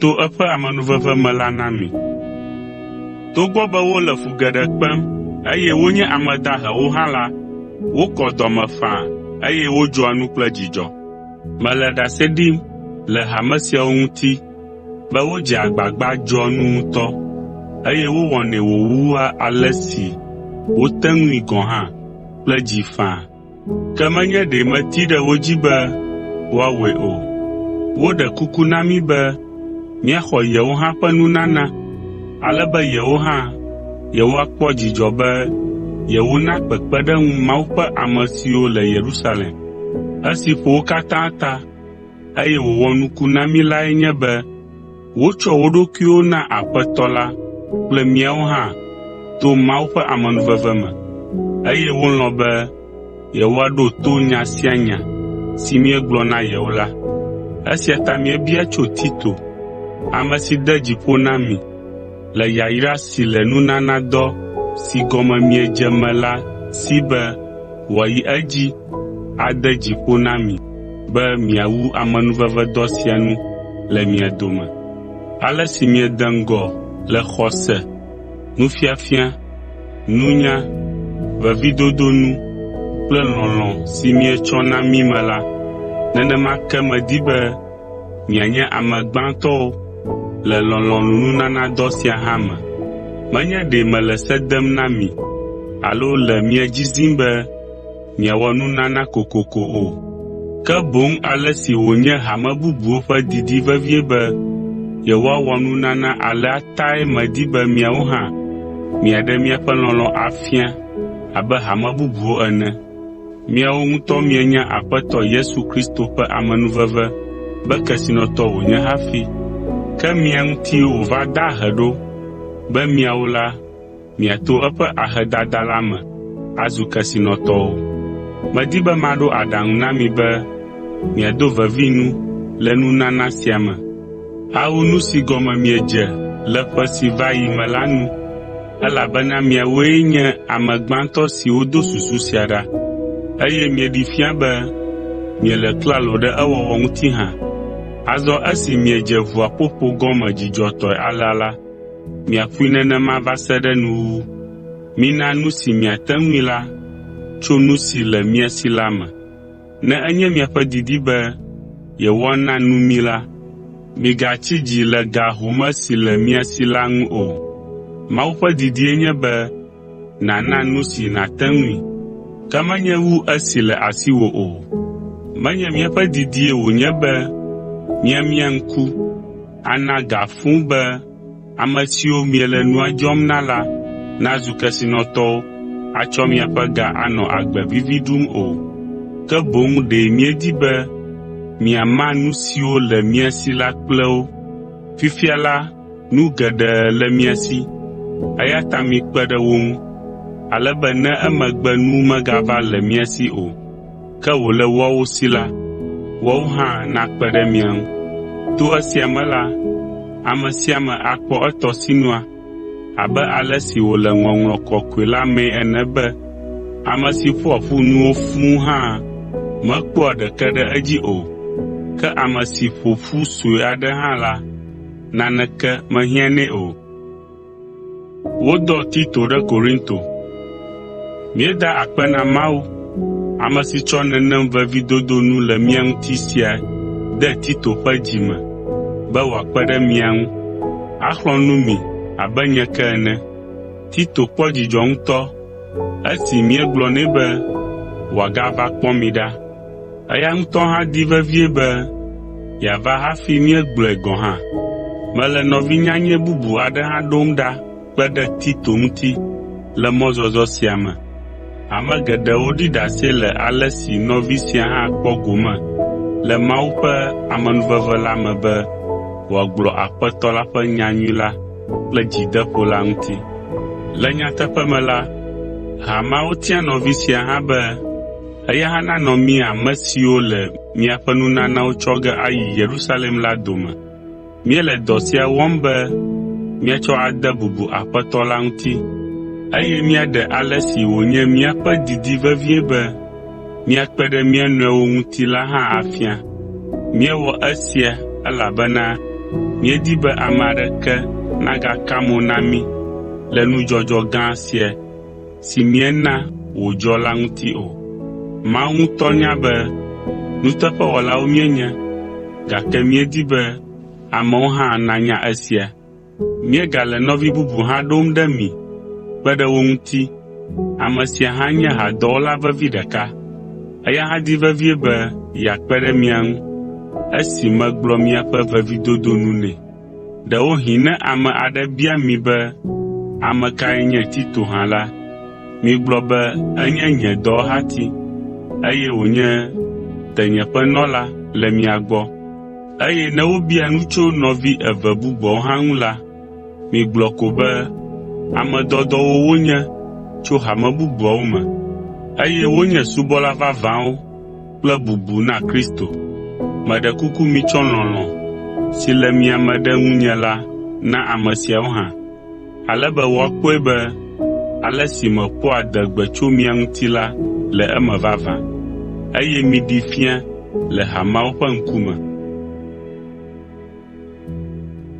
to eƒe amenuveve me la na mi. Togbɔ be wole fu geɖe kpem eye wonye ame dahewo hã la, wokɔ dɔ me faa eye wodzɔa nu kple dzidzɔ. Mele ɖase ɖim le hame siawo ŋuti be wodzea agbagba dzɔa nu ŋutɔ, eye wowɔnɛ wòwua ale si wote ŋui gɔ̃ hã kple dzi faa. Ke menye ɖe meti ɖe wo dzi be woawɔe o. Woɖe kuku na mí be míaxɔ yewo hã ƒe nunana, ale be yewo hã yewoakpɔ dzidzɔ be yewona kpekpeɖeŋu Mawu ƒe ame siwo le Yerusalem. Esi ƒo wo katã ta, eye wòwɔ nuku na mí lae nye be Wotsɔ wo ɖokuiwo na Aƒetɔ la kple míawo hã to Mawu ƒe amenuveve me, eye wolɔ̃ be yewoaɖo to nya sia nya si míegblɔ na yewo la. Esia ta míebia tso Tito, ame si de dzi ƒo na mi, Le yayra si le nunanadɔ si gɔme miedze me la si be wòayi edzi ade dzi ƒo na mi be miawu amenuvevedɔ sia nu le mia dome. Ale si miede ŋgɔ le xɔse, nufiafia, nunya, vevidodo nu kple lɔlɔ̃ si mietsɔ na mí me la, nenema ke medi be mianye ame gbãtɔwo le lɔlɔ̃nunanadɔ sia hã me. Menye ɖe mele se dem na mi alo le mia dzi zim be miawɔ nunana kokoko o, ke boŋ ale si wònye hame bubuwo ƒe didi vevie be yewoawɔ nunana alea tae medi be miawo hã miaɖe miaƒe lɔlɔ̃ afia abe hame bubuwo ene. Miawo ŋutɔ mienya Aƒetɔ Yesu Kristo ƒe amenuveve be kesinɔtɔ wònye hafi. Ke mia ŋutie wòva da ahe ɖo be miawo la, miato eƒe ahedada la me azu kesinɔtɔwo. Medi be maɖo aɖaŋu na mi be miado vevi nu le nunana sia me awu nu si gɔme miedze le ƒe si va yi me la nu. Elabena miawoe nye ame gbãtɔ siwo do susu sia ɖa, eye mieɖee fia be miele klalo ɖe ewɔwɔ ŋuti hã. Azɔ esi miedze ʋuaƒoƒo gɔme dzidzɔtɔe alea la, miaƒoe nenema va se ɖe nuwuwu. Mina nu si miate ŋui la tso nu si le mia si la me. Ne enye miaƒe didi be yewoana nu mí la, migatsi dzi le ga home si le mia si la ŋu o. Mawu ƒe didie nye be nàna nu si nàte ŋui, ke menye wu esi le asiwò o. Menye míaƒe didie wònye be míamia ŋku ana ga fũu be Ame siwo miele nua dzɔm na la nazu kesinɔtɔwo atsɔ miaƒe ga anɔ agbe vivi ɖum o, ke boŋ ɖe míedi be miama nu siwo le mia si la kple wo. Fifia la, nu geɖe le mia si, eya ta mikpe ɖe wo ŋu, ale be ne emegbe nu megava le mia si o. Ke wòle woawo si la, woawo hã nakpe ɖe mia ŋu. To esia me la, ame sia ame akpɔ etɔ sinua, abe ale si wòle Ŋɔŋlɔ Kɔkɔe la mee ene be, “Ame si ƒoa ƒu nuwo fũu hã mekpɔa ɖeke ɖe edzi o, ke ame si ƒo ƒu sue aɖe hã la, naneke mehiãnɛ o.” Wodɔ Tito ɖe Korinto. Míeda akpe na Mawu, ame si tsɔ nenem vevidodo nu le mía ŋuti sia de Tito ƒe dzi me be wòakpe ɖe mia ŋu, axlɔ̃ nu mi abe nye ke ene. Tito kpɔ dzidzɔ ŋutɔ esi míegblɔ nɛ be wòagava kpɔ mi ɖa, Eya ŋutɔ hã di vevie be yeava hafi míegblɔe gɔ̃ hã. Mele nɔvi nyanyɛ bubu aɖe hã ɖom ɖa kpe ɖe Tito ŋuti le mɔzɔzɔ sia me. Ame geɖewo ɖi ɖase le ale si nɔvi sia hã kpɔ gome le Mawu ƒe amenuveve la me be wòagblɔ Aƒetɔ la ƒe nyanyui la kple dzideƒo la ŋuti. Le nyateƒe me la, ha mawo tia nɔvi sia hã be, Eya hã nanɔ mí ame siwo le miaƒe nunanawo tsɔ ge ayi Yerusalem la dome. Míele dɔ sia wɔm be míatsɔ ade bubu Aƒetɔ la ŋuti, eye míaɖe ale si wònye míaƒe didi vevie be míakpe ɖe mía nɔewo ŋuti la hã afia. Míewɔ esia elabena míedi be ame aɖeke nagaka mo na mí le nudzɔdzɔ gã sia si miena wòdzɔ la ŋuti o. Mawu ŋutɔ nya be nuteƒewɔlawo míenye, gake míedi be amewo hã nanya esia. Míegale nɔvi bubu hã ɖom ɖe mi kpe ɖe wo ŋuti, ame sia hã nye hadɔwɔla vevi ɖeka. Eya hã di vevie be yeakpe ɖe mia ŋu esi megblɔ miaƒe vevidodo nu nɛ. Ɖewohĩ ne ame aɖe bia mi be, “Ame kae nye Tito hã?” la, migblɔ be, “Enye nye dɔwɔhati, eye wònye tenyeƒenɔla le mia gbɔ.” Eye ne wobia nu tso nɔvi eve bubuawo hã ŋu la, migblɔ ko be, “Ame dɔdɔwo wonye tso hame bubuawo me, eye wonye subɔla vavãwo.” kple bubu na Kristo. Meɖe kuku mitsɔ lɔlɔ̃ si le mia me ɖe ŋunye la na ame siawo hã, ale be woakpɔe be ale si meƒoa adegbe tso mia ŋuti la le eme vavã, eye miɖee fia le hameawo ƒe ŋkume.